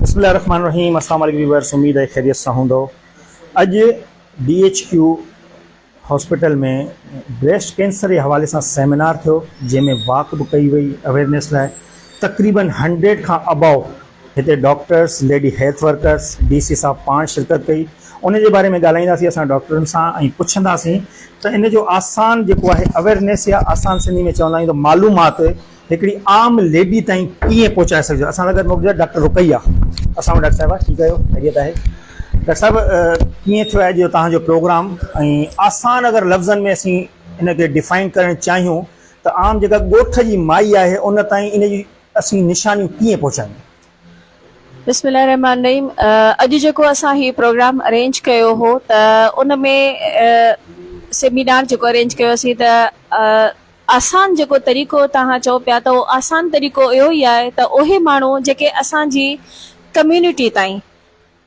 بسم الله الرحمن الرحيم اسلام عليڪم ويورس اميد آهي خيريت سان هوندو اڄ D H Q hospital ۾ breast cancer جي حوالي سان سيمينار ٿيو جنهن ۾ واڪ به ڪئي وئي اويرنيس لاء تقريبن هنڊريڊ کان اباو هتي doctors, lady health workers, D C صاحب پاڻ شرڪت ڪئي، ان جي باري ۾ ڳالهائينداسين اسان ڊاڪٽرن سان ۽ پڇنداسين ته ان جو آسان جيڪو آهي اويرنيس يا آسان سنڌي ۾ چوندا آهيون ته معلومات هڪڙي عام ليڊي تائين ڪيئن پهچائي سگهجي اسان سان گڏ موجود آهي ڊاڪٽر رقيه اسلام ڊاڪٽر صاحبه ٺيڪ آهيو خيريت آهي ڊاڪٽر صاحب ڪيئن ٿيو آهي جو توهان جو پروگرام ۽ آسان اگر لفظن ۾ اسين ان کي ڊيفائن ڪرڻ چاهيون ته عام جيڪا ڳوٺ جي مائي آهي ان تائين ان جي اسين نشانيون ڪيئن پهچايون. بسم الله الرحمٰن الرحيم اڄ جيڪو اسان هي پروگرام ارينج ڪيو هو ته ان ۾ سيمينار جيڪو ارينج ڪيو اسين ته آسان جيڪو طريقو توهان چئو پيا ته اهو آسان طريقو اهو ئي آهي ته اهي ماڻهو جيڪي اسان جي ڪميونٽي تائين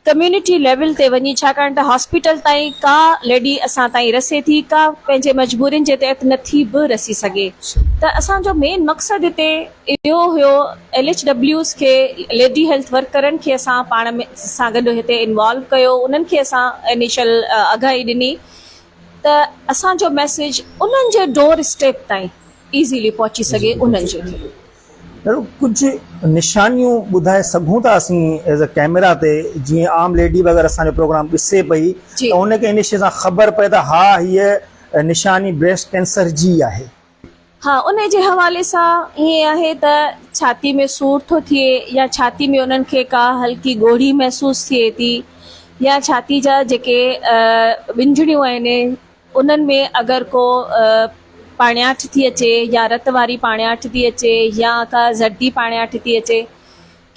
ڪميونٽي ليول تي وڃي ڇاڪاڻ ته هاسپيٽل تائين ڪا ليڊي اسان تائين رسي ٿي ڪا پنهنجي مجبورين جي تحت نه ٿي به رسي سگهي ته اسان جو مين مقصد هتي اهو هيو ايل ايڇ ڊبليوز کي ليڊي هيلٿ ورڪرن کي اسان پاڻ ۾ سان گڏ هتي انوالو ڪيو انهن کي اسان انيشل آگاهي ڏني ته اسان جو ميسيج انهن جي ڊور اسٽيپ تائين ايزيلي پهچي سگهي انهن جي اهڙو ڪجهه نشانيون ٻڌائي سگهون ٿا اسين ايز اي ڪيميرا تي جيئن عام ليڊي به اگر اسان جو پروگرام ڏسي پئي ته ان کي انيشي سان خبر پئي ته ها هيء نشاني بريسٽ ڪينسر جي آهي. ها ان جي حوالي سان ائين آهي ته ڇاتي ۾ سور ٿو ٿئي يا ڇاتي ۾ انهن کي ڪا هلڪي ڳوڙهي محسوس ٿئي ٿي يا ڇاتي جا جيڪي ٻنجهڙيون آهن انهن ۾ اگر ڪو پاڻياٺ ٿي اچي يا رت واري پاڻياٺ ٿي اچي يا ڪا زردي پاڻياٺ ٿي اچي.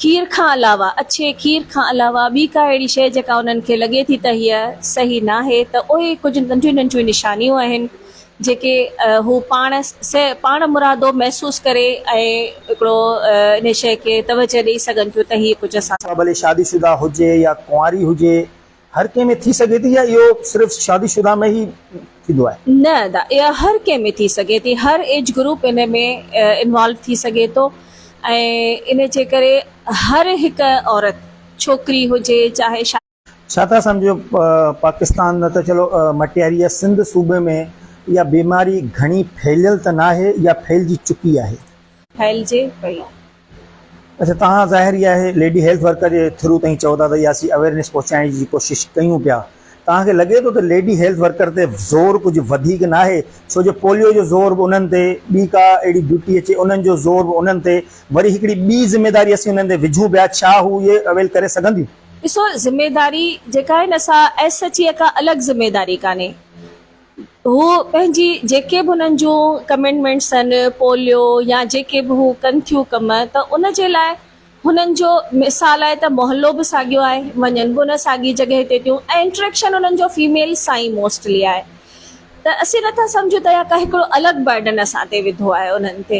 کير کان علاوه، اڇي کير کان علاوه ٻي ڪا اهڙي شيء جيڪا انهن کي لڳي ٿي ته هيء صحيح ناهي ته اهي ڪجهه ننڍيون ننڍيون نشانيون آهن جيڪي هو پاڻ پاڻ مرادو محسوس ڪري ۽ هڪڙو انهيء شيء کي توجهه ڏئي سگهن ٿيون ته هيء ڪجهه اسان سان ٿيو. سا ڀلي شادي شده هجي يا ڪنواري هجي. هر ڪنهن ۾ ٿي سگهي ٿي يا اهو صرف شادي شده ۾ ئي ٿيندو آهي؟ نه ادا اها هر ڪنهن ۾ ٿي سگهي ٿي هر ايج گروپ ان ۾ انوالو ٿي سگهي ٿو ۽ ان جي ڪري هر هڪ عورت ڇوڪري هجي چاهي شا. ڇا ٿا سمجهو پاڪستان نه ته چلو مٽياري يا سنڌ صوبي ۾ اها بيماري گهڻي ڦهليل ته ناهي يا ڦهلجي چڪي آهي؟ ڦهلجي پئي. اچا تهان ظاهر ئي آهي ليڊي هيلٿ ورڪر جي ٿرو تهين چئو ٿا ته ياسين اويرنيس پهچائڻ جي ڪوشش ڪيون پيا تهان کي لڳي ٿو ته ليڊي هيلٿ ورڪر تي زور ڪجهه وڌيڪ ناهي ڇو جو پوليو جو زور به انهن تي ٻي ڪا اهڙي ڊيوٽي اچي انهن جو زور به انهن تي وري هڪڙي ٻي ذميداري اسين انهن تي وجهون پيا ڇا هو اهي اويل ڪري سگهنديون. ڏسو ذميداري جيڪا آهي نه سا ايس ايڇ اي کان الڳ ذميداري ڪانهي هو پنهنجي جيڪي به انهن جون ڪمينڊمينٽس آهن، پوليو يا جيڪي به هو ڪن ٿيون ڪم ته ان جي لاء هنن جو مثال آهي ته محلو به ساڳيو آهي، وڃن به ان ساڳي جڳهه تي ٿيون ۽ انٽريڪشن انهن جو فيميل سان ئي موسٽلي آهي ته اسين نٿا سمجهون ته اها ڪا هڪڙو الڳ برڊن اسان تي وڌو آهي انهن تي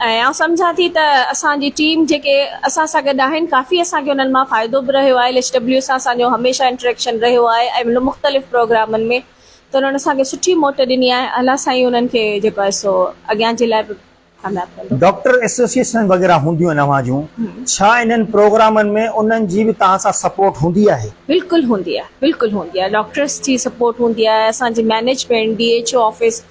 ۽ آئون سمجهان ٿي ته اسان جي ٽيم جيڪي اسان سان گڏ آهن ڪافي اسان کي انهن مان فائدو به رهيو آهي ايل ايڇ ڊبليو سان اسان جو هميشه انٽريڪشن رهيو آهي ۽ مختلف پروگرامن ۾ ته انهن اسان کي سٺي موٽ ڏني آهي الله سائين انهن کي جيڪو آهي سو اڳيان جي لاء به ڪامياب ڪندو. ڊاڪٽر ايسوسيئيشنز وغيره هونديون آهن اوهان جون ڇا انهن پروگرامن ۾ انهن جي به توهان سان سپورٽ هوندي آهي؟ بلڪل هوندي آهي بلڪل هوندي آهي ڊاڪٽرس جي سپورٽ هوندي آهي اسان جي management D H O office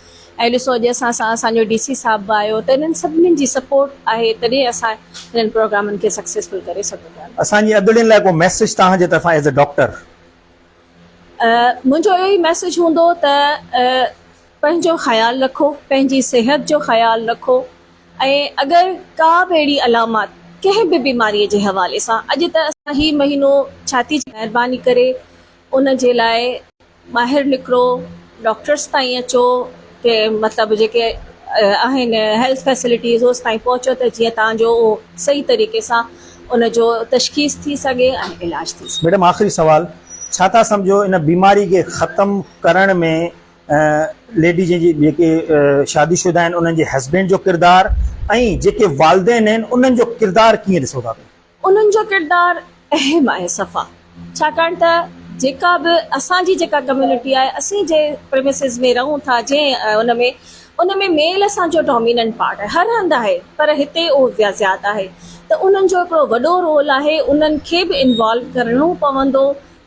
۽ ڏسو اڄ اسان سان اسان جو ڊي سي صاحب به آيو ته انهن سڀني جي سپورٽ آهي تڏهن اسان انهن پروگرامن کي سڪسيسفل ڪري سگهون ٿا. اسان جي ادڙين لاء ڪو ميسيج توهان جي طرفان ايز اي ڊاڪٽر؟ منهنجو اهو ئي ميسيج هوندو ته پنهنجو خيال رکو پنهنجي صحت جو خيال رکو ۽ اگر ڪا به اهڙي علامات ڪنهن به بيماري جي حوالي سان اڄ ته اسان هي مهينو ڇا ٿي مهرباني ڪري ان جي لاء ٻاهر نڪرو ڊاڪٽرس تائين اچو کي مطلب جيڪي آهن هيلٿ فيسلٽيز اوس تائين پهچو ته جيئن تان جو اهو صحيح طريقي سان ان جو تشخيص ٿي سگهي ۽ علاج ٿي سگهي. ميڊم آخري سوال ڇا ٿا سمجهو ان بيماري کي ختم ڪرڻ ۾ ليڊيز جي جيڪي شادي شده آهن انهن جي هسبينڊ جو ڪردار ۽ جيڪي والدين آهن انهن جو ڪردار ڪيئن ڏسو ٿا پيا. انهن جو ڪردار اهم آهي صفا ڇاڪاڻ ته جيڪا به اسان جي جيڪا ڪميونٽي آهي اسين جنهن پريمسز ۾ رهون ٿا جنهن ان ۾ ان ۾ ميل اسان جو ڊاميننٽ پارٽ آهي هر هنڌ آهي پر هتي اهو زياد آهي ته انهن جو هڪڙو وڏو رول آهي انهن کي به انوالو ڪرڻو پوندو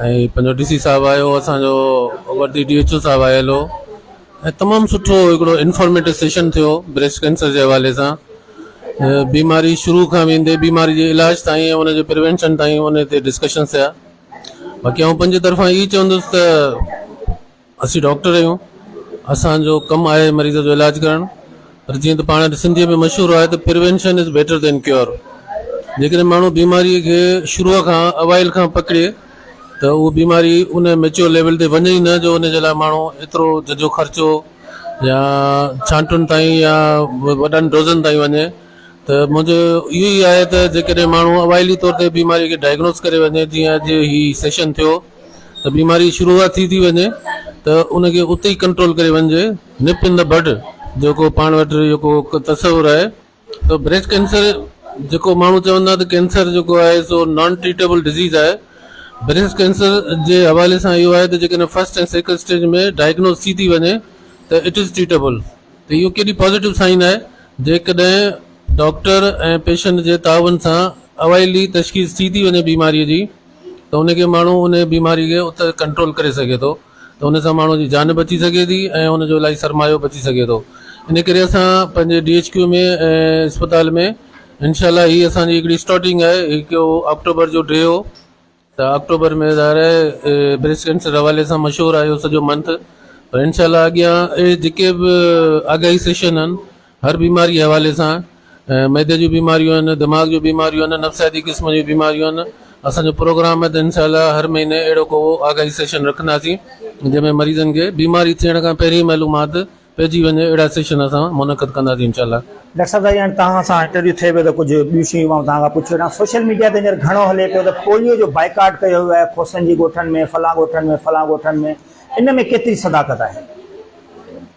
۽ پنهنجو ڊي سي صاحب آيو هو اسان جو وردي ڊي ايڇ او صاحب آيل هو ۽ تمام سٺو هڪڙو انفارميٽو سيشن ٿيو بريسٽ ڪينسر جي حوالي سان بيماري شروع کان ويندي بيماري جي علاج تائين ۽ ان جي پريوينشن تائين ان تي ڊسڪشن ٿيا باقي آئون پنهنجي طرفان اهي چوندس ته اسين ڊاڪٽر آهيون اسان جو ڪم آهي مريض جو علاج ڪرڻ پر جيئن ته پاڻ سنڌي ۾ مشهور آهي ته prevention is better than cure جيڪڏهن ماڻهو بيماري کي شروع کان اوائل کان پڪڙي ته اهو بيماري ان ميچور ليول تي وڃي نه جو ان جي لاء ماڻهو ايترو ججو خرچو يا ڇانٽن تائين يا وڏن ڊوزن تائين وڃي ته منهنجو اهو ئي آهي ته جيڪڏهن ماڻهو اوائلي طور تي بيماري کي ڊائگنوز ڪري وڃي جيئن اڄ هي سيشن ٿيو ته بيماري شروعات ٿي ٿي وڃي ته ان کي اتي ئي ڪنٽرول ڪري وڃجي نپ ان دي بڊ جيڪو پاڻ وٽ جيڪو تصور آهي ته بريسٽ ڪينسر جيڪو ماڻهو چوندا ته ڪينسر جيڪو آهي سو نان ٽريٽيبل ڊزيز آهي بريسٽ ڪينسر جي حوالي سان اهو آهي ته جيڪڏهن فرسٽ ۽ سيڪنڊ اسٽيج ۾ ڊائگنوز ٿي ٿي وڃي ته اٽ از ٽريٽيبل ته اهو ڪيڏي پازيٽو سائن آهي جيڪڏهن ڊاڪٽر ۽ پيشنٽ جي تعاون سان اوائلي تشخيص ٿي ٿي وڃي بيماري جي ته ان کي ماڻهو ان بيماري کي ات ڪنٽرول ڪري سگهي ٿو ته ان سان ماڻهو جي جان بچي سگهي ٿي ۽ ان جو الائي سرمايو بچي سگهي ٿو ان ڪري اسان پنهنجي ڊي ايڇ ڪيو ۾ اسپتال ۾ انشاء الله هي اسان جي هڪڙي اسٽارٽنگ آهي هڪ آڪٽوبر جو ڊي هو ته آڪٽوبر ۾ ظاهر آهي بريسٽ ڪينسر حوالي سان مشهور آهي سڄو منٿ پر انشاء الله اڳيان اهڙي جيڪي به آگاهي سيشن آهن هر بيماري جي حوالي سان معدي جون بيماريون آهن دماغ جون بيماريون آهن نفسياتي قسم جون بيماريون آهن اسان جو پروگرام آهي ته انشاء الله هر مهيني اهڙو ڪو آگاهي سيشن رکنداسين جنهن ۾ مريضن کي بيماري ٿيڻ کان پهرين معلومات پئجي وڃي اهڙا سيشن اسان منعقد ڪنداسين انشاء الله. ڊاڪٽر صاحب سائين هاڻي توهان سان انٽرويو ٿئي پيو ته ڪجهه ٻيون شيون به آئون توهان کان پڇي وٺان سوشل ميڊيا تي هينئر گهڻو هلي پيو ته پوليو جو بائيڪاٽ ڪيو ويو آهي کوسن جي ڳوٺن ۾ فلان ڳوٺن ۾ فلان ڳوٺن ۾ ان ۾ ڪيتري صداقت آهي؟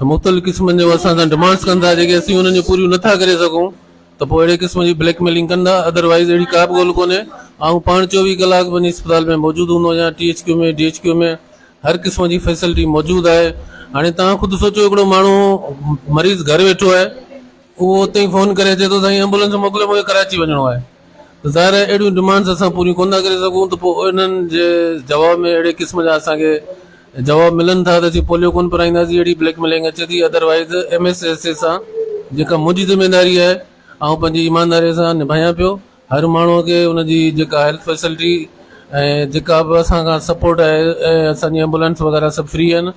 مختلف قسمن جو اسان سان ڊمانڊس ڪن ٿا جيڪي اسين انهن جون پوريون نه ٿا ڪري سگهون ته پوء اهڙي قسم جي بليڪ ميلنگ ڪن ٿا ادر وائيز اهڙي ڪا به ڳول ڪونهي آئون پاڻ چوويهه ڪلاڪ وڃي اسپتال ۾ موجود هوندو آهيان T H Q ۾ D H Q ۾ هر قسم جي فيسلٽي موجود آهي هاڻي توهان خود سوچو هڪڙو ماڻهو مريض گهر ويٺو آهي اهو اتي فون ڪري اچي ٿو سائين ايمبولنس موڪليو مون کي ڪراچي وڃڻو آهي ظاهر آهي اهڙيون ڊمانڊز اسان پوريون ڪونه ٿا ڪري سگهون ته پوء انهن جي جواب ۾ اهڙي قسم جا اسان کي جواب ملن ٿا ته اسين پوليو ڪونه پرائينداسين اهڙي بليڪ ميلنگ اچي ٿي otherwise M S S A سان جيڪا منهنجي ذميواري آهي آئون پنهنجي ايمانداري سان نڀايان پيو هر ماڻهو کي ان جي جيڪا هيلٿ فيسلٽي ۽ جيڪا به اسان کان سپورٽ آهي ۽ اسان جي ايمبولينس وغيرهه سڀ فري آهن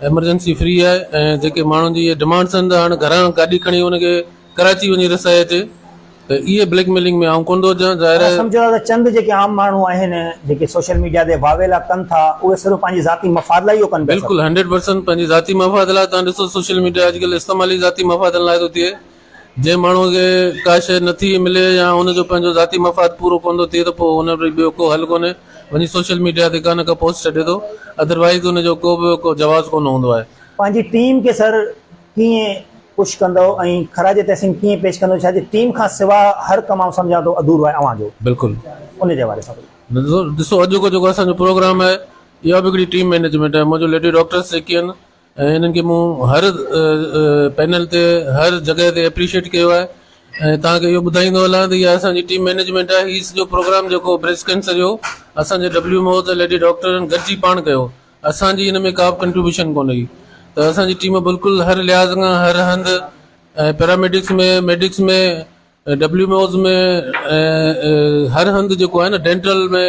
ايمرجنسي فري آهي ۽ جيڪي ماڻهن جي اهي ڊمانڊس آهن ته هاڻي گهران گاڏي کڻي ان کي ڪراچي وڃي رسائي اچي ته اهي بليڪ ميلنگ ۾ آئون ڪونه ٿو اچان ظاهر آهي. سمجهو ٿا ته چند جيڪي عام ماڻهو آهن جيڪي سوشل ميڊيا تي واويلا ڪن ٿا اهي صرف پنهنجي ذاتي مفاد لاء اهو ڪن پيا. بلڪل هنڊريڊ پرسنٽ پنهنجي ذاتي مفاد لاء تهان ڏسو سوشل ميڊيا اڄ ڪلهه استعمال ئي ذاتي مفادن لاء ٿو ٿئي جنهن ماڻهو کي ڪا شي نٿي ملي يا ان جو پنهنجو ذاتي مفاد پورو ڪونه ٿو ٿئي ته پوء ان وٽ ٻيو ڪو حل ڪونهي وڃي سوشل ميڊيا تي ڪانه ڪا پوسٽ ڇڏي ٿو ادروائيز ان جو ڪو به ڪو جواز ڪونه هوندو آهي. پنهنجي ٽيم کي سر ڪيئن پش ڪندؤ ۽ خراج تحسين ڪيئن پيش ڪندؤ ڇا جي ٽيم کان سوا ھر ڪم آئون سمجھان ٿو اڌورو آھي اوھان جو بلڪل ان جي حوالي سان ڪجھ. ڏسو اڄ جو جيڪو اسان جو پروگرام آھي اھا به ھڪڙي ٽيم مينيجمينٽ آھي منھنجو ليڊي ڊاڪٽرس جيڪي آھن ھنن کي مون ھر پينل تي ھر جڳھه تي اپريشيٽ ڪيو آھي ۽ توھان کي اھو ٻڌائيندو ھلان ته اھا اسان جي ٽيم مينيجمينٽ آھي ھي سڄو پروگرام جيڪو بريسٽ ڪينسر جو اسان جي ڊبليو ايم او ته ليڊي ڊاڪٽرن گڏجي پاڻ ڪيو اسان جي ان ۾ ڪا به ڪنٽريبيوشن ڪونه هئي ته اسان جي ٽيم بلڪل هر لحاظ کان هر هنڌ ۽ paramedics ۾ medics ۾ W M Os ۾ ۽ هر هنڌ جيڪو آهي نه ڊينٽل ۾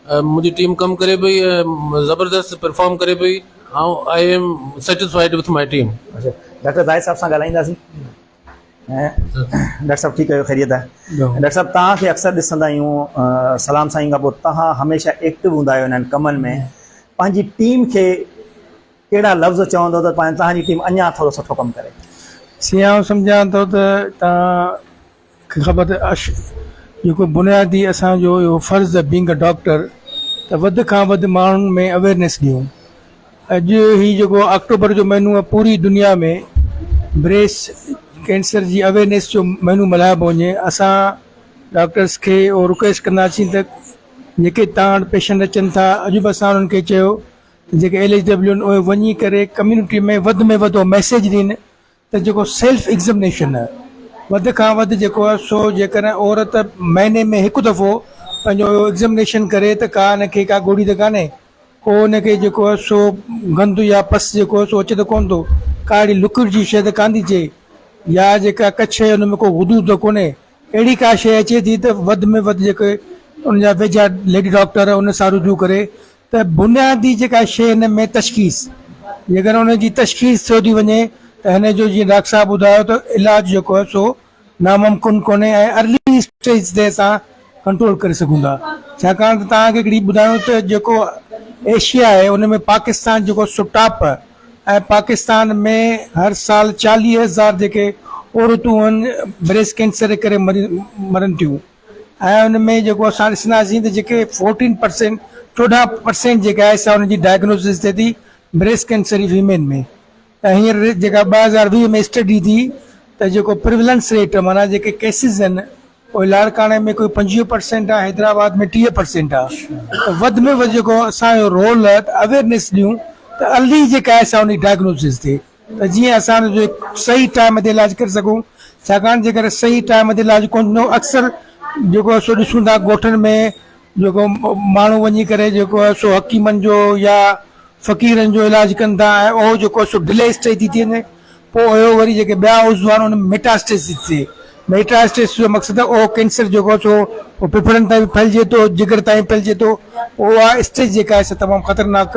منهنجي ٽيم ڪم ڪري پئي ۽ زبردست پرفارم ڪري پئي آئون I am satisfied with my team. Doctor Zahid صاحب سان ڳالهائينداسين. ڊاڪٽر صاحب ٺيڪ آهيو خيريت آهي ڊاڪٽر صاحب توهان کي اڪثر ڏسندا آهيون سلام سائين کان پوء توهان هميشه ايڪٽو هوندا آهيو انهن ڪمن ۾ پنهنجي ٽيم کي ڪهڙا لفظ چوندو ته توهان جي ٽيم اڃا ٿورو سٺو ڪم ڪري سي آئون سمجهان ٿو ته توهان کي خبر ته اش جيڪو بنيادي اسان جو اهو فرض بينگ ا ڊاڪٽر ته وڌ کان وڌ ماڻهن ۾ اويرنيس ڏيون اڄ هي جيڪو آڪٽوبر جو مهينو پوري دنيا ۾ بريس ڪينسر جي اويرنيس جو مهينو ملهايو پيو وڃي اسان ڊاڪٽرس کي اهو رڪويسٽ ڪنداسين ته جيڪي تان وٽ پيشنٽ اچن ٿا اڄ به اسان انهن کي چيو ته جيڪي ايل ايچ ڊبليو آهن اهي وڃي ڪري ڪميونٽي ۾ وڌ ۾ وڌ اهو ميسيج ڏين ته جيڪو سيلف ايگزمنيشن وڌ کان وڌ جيڪو آهي سو جيڪڏهن عورت مهيني ۾ هڪ دفعو پنهنجو اهو ايگزمنيشن ڪري ته ڪا ان کي ڪا ڳوڙهي ته ڪانهي ڪو ان کي جيڪو آهي سو گند يا پس جيڪو آهي سو اچي ته ڪونه ٿو ڪا اهڙي لڪوڊ جي شيء ته ڪانه ٿي چئي يا جيڪا ڪڇ ان ۾ ڪو غدود ته ڪونهي اهڙي ڪا شيء اچي ٿي ته وڌ ۾ وڌ جيڪي ان جا ويجها ليڊي ڊاڪٽر ان سان رجوع ڪري ته بنيادي جيڪا شيء هن ۾ تشخيص جيڪڏهن ان جي تشخيص ٿيو ٿي وڃي ته هن جو جيئن ڊاڪٽر صاحب ٻڌايو ته علاج جيڪو آهي سو ناممڪن ڪونهي ۽ ارلي اسٽيج تي اسان ڪنٽرول ڪري سگهون ٿا ڇاڪاڻ ته توهان کي هڪڙي ٻڌايون ته جيڪو ايشيا آهي ان ۾ پاڪستان جيڪو سو ٽاپ ۽ پاڪستان ۾ هر سال چاليهه هزار جيڪي عورتون آهن بريسٽ ڪينسر جي ڪري مرن ٿيون ۽ ان ۾ جيڪو اسان ڏسنداسين ته جيڪي فورٽين پرسينٽ چوڏهن پرسينٽ جيڪا آهي سا ان جي ڊائگنوسز ٿئي ٿي بريسٽ ڪينسر جي فيميل ۾ ته هينئر جيڪا ٻه هزار ويهه ۾ اسٽڊي ٿي ته جيڪو پرولنس ريٽ معنيٰ جيڪي ڪيسز آهن اهي لاڙڪاڻي ۾ ڪوئي پنجويهه پرسينٽ آهي حيدرآباد ۾ ٽيهه پرسينٽ آهي وڌ ۾ وڌ جيڪو اسانجو رول آهي ته اويئرنيس ڏيون ته ارلي جيڪا آهي سا ان جي ڊائگنوسز ٿئي ته جيئن اسان ان جو صحيح ٽائيم تي علاج ڪري سگهون ڇاڪاڻ جيڪر صحيح ٽائيم تي علاج ڪونه ٿيندو اڪثر جيڪو آهي سو ڏسون ٿا ڳوٺن ۾ جيڪو ماڻهو وڃي ڪري جيڪو آهي سو حڪيمن جو يا فقيرن جو علاج ڪن ٿا ۽ اهو جيڪو آهي سو ڊلي اسٽيج تي ٿي وڃي پوء اهو وري جيڪي ٻيا عضو آهن ان ۾ ميٽاسٽيس ٿي ٿئي ميٽاسٽيس جو مقصد اهو ڪينسر جيڪو آهي سو پوء ڦڦڙن تائين به ڦهلجي ٿو جگر تائين ڦهلجي ٿو اها اسٽيج جيڪا آهي سا تمام خطرناڪ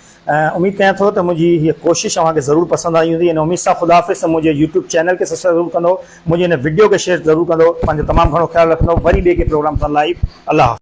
۽ اميد ڪيان ٿو ته منهنجي هيء ڪوشش اوهان کي ضرور پسند آئي هوندي ان اميد سان خدا حافظ ته منهنجي يوٽيوب چينل کي سبسڪرائيب ضرور ڪندو منهنجي هن وڊيو کي شيئر ضرور ڪندو پنهنجو تمام گهڻو خيال رکندو وري ٻئي ڪي پروگرام سان لائيو الله حافظ.